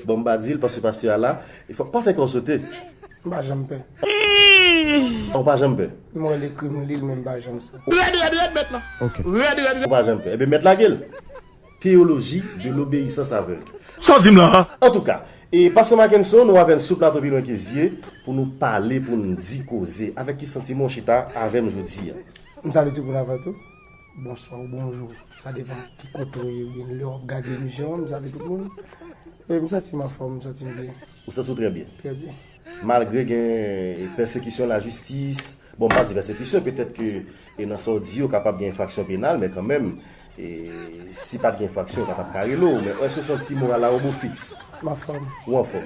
Bon mpa dil paske pastè a la e fòk pa fè kòw sote. M pa janm pè. Ou pa janm pè. Mwen lekri m lil men m pa janm sa. Rèd rèd rèd mèt lan. Rèd rèd rèd. Ou pa janm pè. Ebyen mèt lagel. Théologie de l'obéissance aveugle. Saw dim lan an. Antouka E pastè Mackenson ou avèn sou plato pi lwen ke zye pou nou pale poun di koze. Avèk ki santiman ou chita avèm jodi a? M salye tout moun avan tou. Bonswa ou bonjou, sa depan ki kote ou ye wi, lè wap gade emisyon an, m salye tout moun, e m santi m anfòm, m santi m byen. Ou santi w trè byen? Trè byen. Malgre gen pèsekisyon lajistis, bon m pa di pèsekisyon, petèt ke e nan sa w di yo kapab gen enfraksyon penal, men kanmenm, e si pat gen enfraksyon yo pa tap ka rele w, men èske w santi moral la ou bo fiks? M anfòm. Ou anfòm.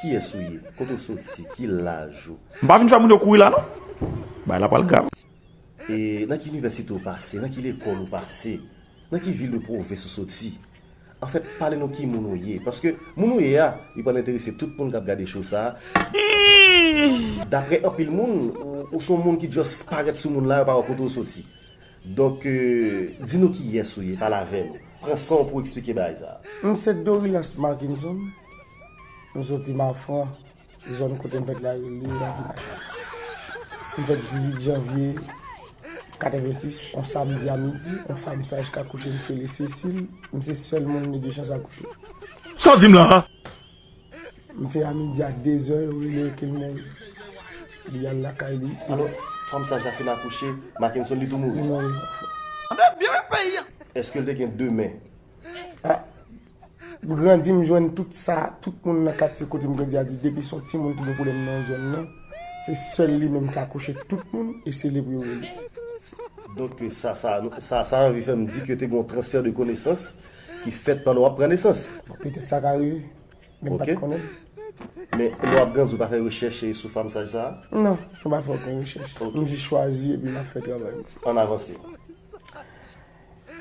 Kiyes ou ye? Kote ou soti? Ki laj ou? M pa vin fè moun yo kouri la non. Bagay la pral grav. E nan ki inivèsite ou pase? Nan ki lekòl ou pase? Nan ki vil ou pwovens ou soti? Anfèt, pale nou ki moun ou ye. Paske moun ou ye a, li pral enterese tout moun k ap gade show sa a. Daprè anpil moun, ou s on moun ki just parèt sou moun la, yo pa wè kote ou soti. Donk di nou kiyès ou ye pale avè nou. Pran san w pou w eksplike bagay sa a. M se Dorilas Marckinson, m soti Mafran, zòn kote m fèt la rele Ravinachaye. M fèt 18 janvye 86, on samdi a midi, on fam saj k akouche m k rele Cécile, m se sèl moun li gen chans akouche. Sa w di m la a? M fè a midi a 2 zè yo rele ken mwen li al lakay li. Alò fanm sa Jafin akouche Makenson li tou mouri? Li mouri wi pafwa. Tande byen peyi a! Eskel te gen 2 men? Ah m grandi m jwenn tout sa tout moun nan katye kote m grandi a di depi son timoun ki gen pwoblèm nan zòn nan se sèl li menm ki akouche tout moun e se li pou yo rele. Donk sa sa anvi fè m di ke te gen yon transfè de konesans. ki fèt pandan w ap pran nesans. Bon, petèt sa ka rive. Men m pa t konnen. Men, lè w ap grandi, ou pa fè rechèch sou famsaj sa a? Non, mwen pa fè okenn rechèch. M jis chwazi epi m ap fè travay m. Ann avanse.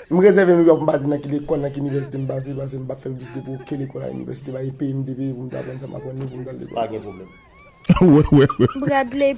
M rezève Nouyòk, m pa di nan ki lekòl, nan ki inivèsite m pase, pase m pa fè piblisite pou okenn lekòl ak inivèsite, pa gen peyi m te peye pou m te aprann yo pou m t al lekòl. Pa gen pwoblèm. Bradley.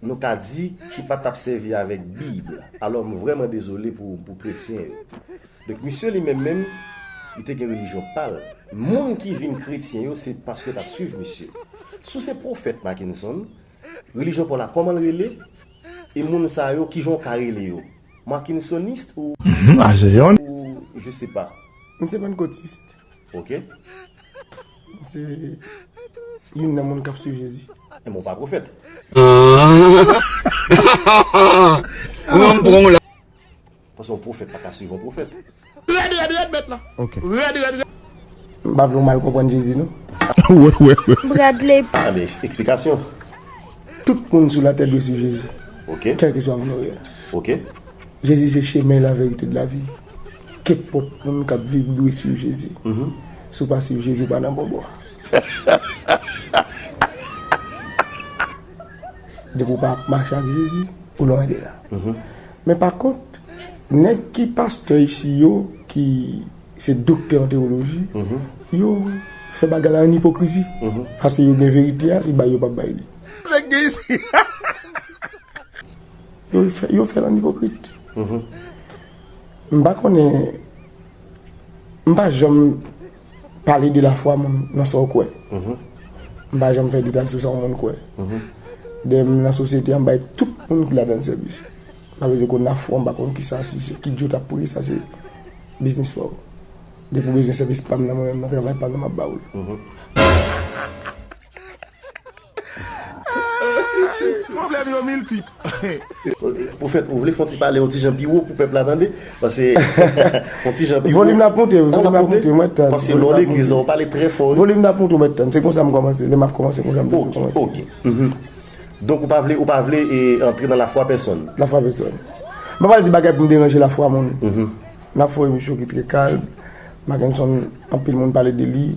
nou ka di, ki pa t ap sèvi avèk Bib. Alò, m vrèman dezole pou pou kretyen yo. Donk, misye li menm menm, li te gen relijyon pa l. Moun ki vin kretyen yo, se paske yo t ap suiv misye. Si w se pwofèt, Mackenson, relijyon pa w la kòman l rele? E moun sa yo, ki jan w ka rele yo? Mackensonist ou. Ou je se pa. M se pannkotist. Ok. Mwen se youn nan moun kap swiv Jezi. E mwen pa pwofèt. Paske yon pwofèt pa ka swiv yon pwofèt. M pa vle w mal konprann Jezi non. Tout moun sou latè dwe swiv Jezi. Kèlkeswa moun ou ye. Jezi se chemen, laverite, lavi. Kenpòt moun kap viv dwe swiv Jezi. Si w pa swiv Jezi w pa nan bon bò. Depi w pa ap mache ak Jezi ou lwen de la. Men pa kont nèg ki pastè isi yo ki se doktè an tewoloji yo fè bagay la an ipokrizi. Pase yo gen verite a se bay yo pap bay li. Yo fè l an ipokrit. M pa konnen, m pa janm pale de lafwa moun nan sa w kwè. M pa janm fè detay sou sa yon moun kwè. Dèyè m nan sosyete an, m bay tout moun ki ladan l sèvis. M pa bezwen konn lafwa w, m pa konn ki sa, si se ki djo w t ap priye, sa se biznis pa w. Depi w bezwen sèvis pa m nan, mwen menm nan travay pa m nan m ap ba w l. Pwoblèm yo miltip. Pwofèt ou vle fon ti pale yon ti jan pi wo pou pèp la tande? Pase yon ti jan pi wo. Volim nan ap moute wi, volim nan ap moute wi, mwen ap tann. Pase lè w legliz lan ou pale trè fò wi. Volim nan ap moute mwen ap tann, se konsa m kòmanse, lè m ap kòmanse konsa m toujou kòmanse. Ok, ok. Donk ou pa vle, ou pa vle antre nan lafwa pèsòn. Lafwa pèsòn. M pa pral di bagay pou m deranje lafwa moun. M ap fè yon emisyon ki trè kalm, Makenson anpil moun pale de li,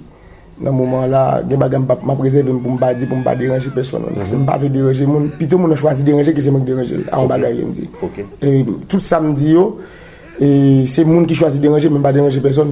Nan moman la, gen bagay m ap rezève m pou m pa di, pou m pa deranje pèsonn. Paske m pa vle deranje moun. Pito moun nan chwazi deranje ke se mwen ki deranje l a yon bagay ke m di. E tout sa m di yo, se moun ki chwazi deranje m, m pa deranje pèsonn.